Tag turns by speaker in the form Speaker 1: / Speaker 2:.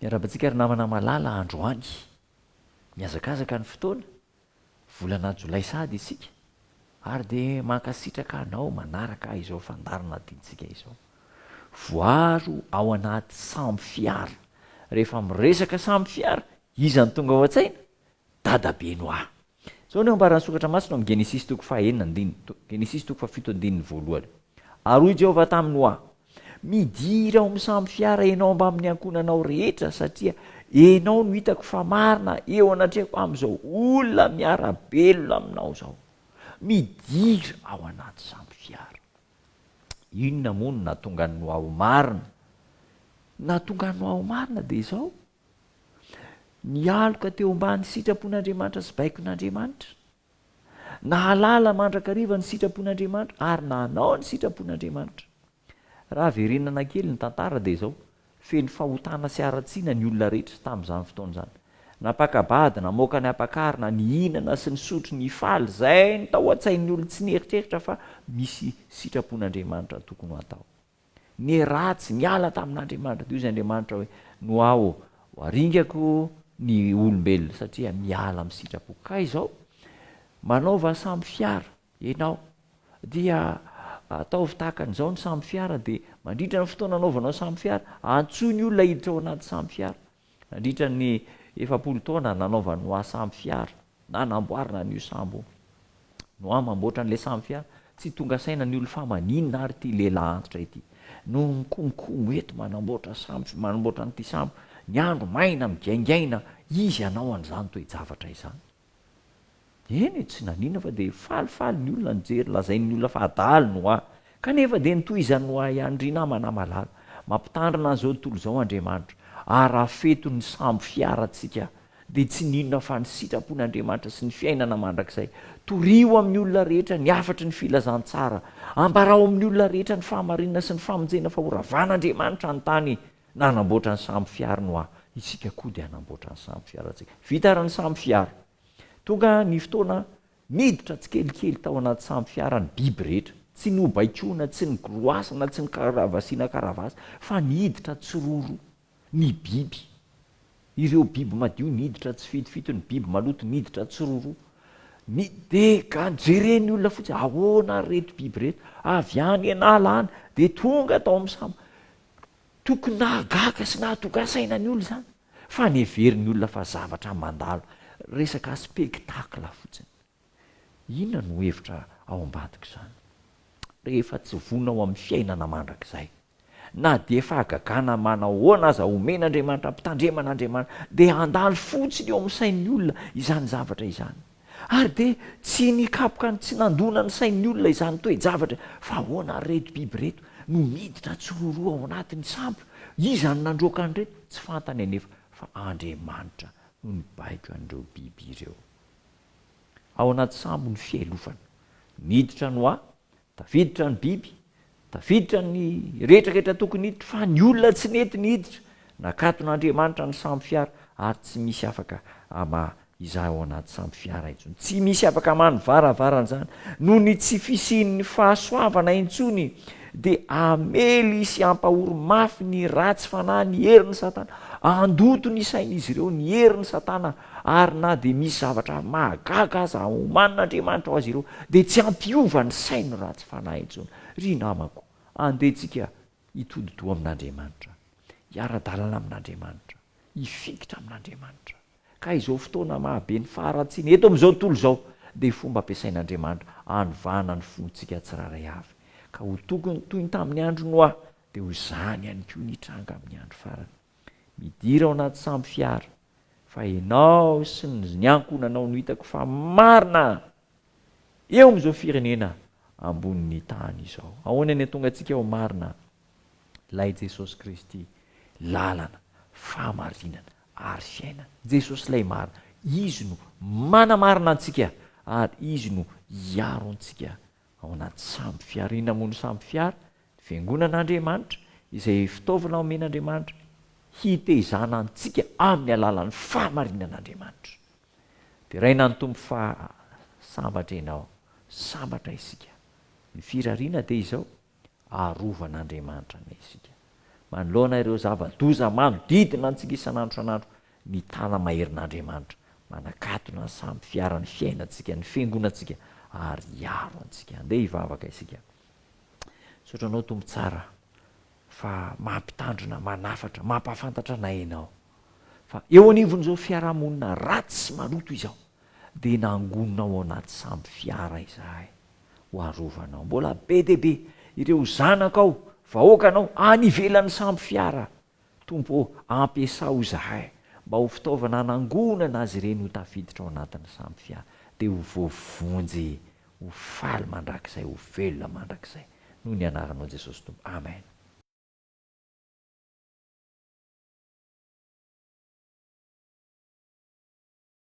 Speaker 1: Miarahaba antsika ry namana malala androany. Mihazakazaka ny fotoana, volana jolay sahady isika ary dia mankasitraka anao manaraka izao fandaharana adintsika izao. Voaro ao anaty samy fiara. Rehefa miresaka samy fiara, iza no tonga ao an-tsaina? Dadabeny ho'aho. Izao no ambaran'ny Soratra Masina ao amin'ny Genesisy toko fahenina andininy, to, Genesisy toko fahafito andininy voalohany, Ary hoy Jehovah taminy ho'a, Midira ao amin'ny sambo fiara ianao mbamin'ny ankohonanao rehetra, satria ianao no hitako fa marina eo anatrehako amin'izao olona miara-belona aminao izao. Midira ao anaty sambo fiara. Inona moa no nahatonga an'i Noa ho marina? Ny nahatonga an'i Noa ho marina dia izao, Nialoka teo ambany sitrapon'Andriamanitra sy baikon'Andriamanitra. Nahalala mandrakariva ny sitrapon'Andriamanitra ary nanao ny sitrapon'Andriamanitra. Raha verenana kely ny tantara dia izao, feno fahotana sy haratsiana ny olona rehetra tamin'izany fotoana izany. Nampaka-bady, namoaka ny ampakarina, nihinana sy nisotro, nifaly, izay no tao an-tsain'ny olona tsy nieritreritra fa misy sitrapon'Andriamanitra tokony ho atao. Ny ratsy niala tamin'Andriamanitra, dia hoy Andriamanitra hoe, Noaoo, ho aringako ny olombelona satria miala amin'ny sitrapoko. Ka izao, manaova sambo fiara ianao, dia ataovy tahaka an'izao ny sambo fiara, dia mandritra ny fotoana anaovanao sambo fiara, antsoy ny olona hiditra ao anaty sambo fiara, Nandritra ny efapolo taona nanaovany hoa samy fiara na namboarina an'io sambo no an mamboatra an'ilay samy fiara, tsy tonga saina ny olon fa maninona ary ity lehilahy antitra ity no mikomikomo eto manamboatra samy manamboatra an'ity sambo, ny andro maina migaingaina izy hanao an'izany toe-javatra izany. Eny e, tsy nanina fa dia falifaly ny olona nijery, lazain'ny olona fa adala ny hoa. Kanefa dia notohizan'ny hoa ihany, ry namana malala. Mampitandrina an'izao tontolo izao Andriamanitra. Ary raha fety ny sambo fiarantsika, dia tsy ninona fa ny sitrapon'Andriamanitra sy ny fiainana mandrakizay. Torio amin'ny olona rehetra ny hafatry ny filazantsara. Ambarao amin'ny olona rehetra ny fahamarinana sy ny famonjena fa horavan'Andriamanitra ny tany. Nanamboatra ny sambo fiary ny hoa, isika koa dia hanamboatra ny sambo fiarantsika. Vita ary ny sambo fiara. Tonga ny fotoana niditra tsikelikely tao anaty sambo fiara ny biby rehetra. Tsy nobaikoina, tsy nigoroasana, tsy nikaravasiana karavasy, fa niditra tsiroro ny biby. Ireo biby madio niditra tsifitofito, ny biby maloto niditra tsiroro. Ny dega, jeren'ny olona fotsiny, ahoana ary ireto biby ireto? Avy any an'ala any dia tonga tao amin'ny sambo. Tokony nahagaga sy nahatogasaina ny olona izany fa ny heverin'ny olona fa zavatra mandalo, resaka spectacle fotsiny. Inona no hevitra ao ambadik'izany? Rehefa tsy vonona ho amin'ny fiainana mandrakizay, na dia fahagagana manahoana aza omen'Andriamanitra ampitandremana Andriamanitra, dia handalo fotsiny eo amin'ny sain'ny olona izany zavatra izany. Ary dia tsy nikapoka ny tsy nandona ny sain'ny olona izany toe-javatra fa ahoana ary ireto biby ireto no miditra tsiroroa ao anatin'ny sambo? Iza no nandroaka an'ireto? Tsy fantany anefa fa Andriamanitra no nibaiko an'ireo biby ireo. Ao anaty sambo ny fialofana. Niditra ny hoa Tafiditra ny biby, tafiditra ny rehetra rehetra tokony hiditra fa ny olona tsy nety ny hiditra, nakaton'Andriamanitra ny sambo fiara ary tsy misy afaka hamaha izany ao anaty sambo fiara intsony, tsy misy afaka hamaha ny varavaran'izany, noho ny tsy fisian'ny fahasoavana intsony dia hamely sy hampahory mafy ny ratsy fanahy ny herin'i Satana, handoto ny sain'izy ireo ny herin'i Satana Ary na dia misy zavatra mahagaga aza omanin'Andriamanitra ho azy ireo, dia tsy hampiova ny sainy ny ratsy fanahy intsony. Ry namako, andeha tsika hitodi-doha amin'Andriamanitra, hiara-dalana amin'Andriamanitra, hifikitra amin'Andriamanitra. Ka izao fotoana mahabe ny faharatsiana eto amin'izao tontolo izao, dia fomba ampiasain'Andriamanitra hanovana ny fontsika tsirairay avy. Ka ho tokony toy ny tamin'ny andro Noa, dia ho izany ihany koa ny hitranga amin'ny andro farany. Midira ao anaty sambo fiara. fa enao sy ny ankohonanao no hitako fa marina eo amin'izao firenena ambonin'ny tany izao. Ahoana ny hatonga antsika ho marina? Ilay Jesosy Kristy, lalana, fahamarinana ary fiainana. Jesosy ilay marina. Izy no manamarina antsika ary Izy no hiaro antsika ao anaty sambo fiara. Inona moa no sambo fiara? Ny fiangonan'Andriamanitra, izay fitaovana omen'Andriamanitra hitezana antsika amin'ny alalan'ny fahamarinan'Andriamanitra. Deraina ny Tompo fa sambatra ianao, sambatra isika. Ny firariana dia izao, arovan'Andriamanitra anay isika. Manoloana ireo zava-doza manodidina antsika isan'andro isan'andro, ny tàna maherin'Andriamanitra manakatona ny sambo fiaran'ny fiainantsika, ny fiangonantsika, ary hiaro antsika. Andeha hivavaka isika. Misaotra Anao, Tompo tsara, fa mampitandrina, manafatra, mampahafantatra anay Ianao, fa eo anivon'izao fiarahamonina ratsy sy maloto izao, dia nangonina ao anaty sambo fiara izahay ho arovanao. Mbola be dia be ireo zanakao, vahoakanao, any ivelan'ny sambo fiara. Tompo ô, ampiasao izahay mba ho fitaovana hanangonana azy ireny ho tafiditra ao anatin'ny sambo fiara, dia ho voavonjy ho faly mandrakizay, ho velona mandrakizay. Noho ny Anaranao Jesosy Tompo. Amen.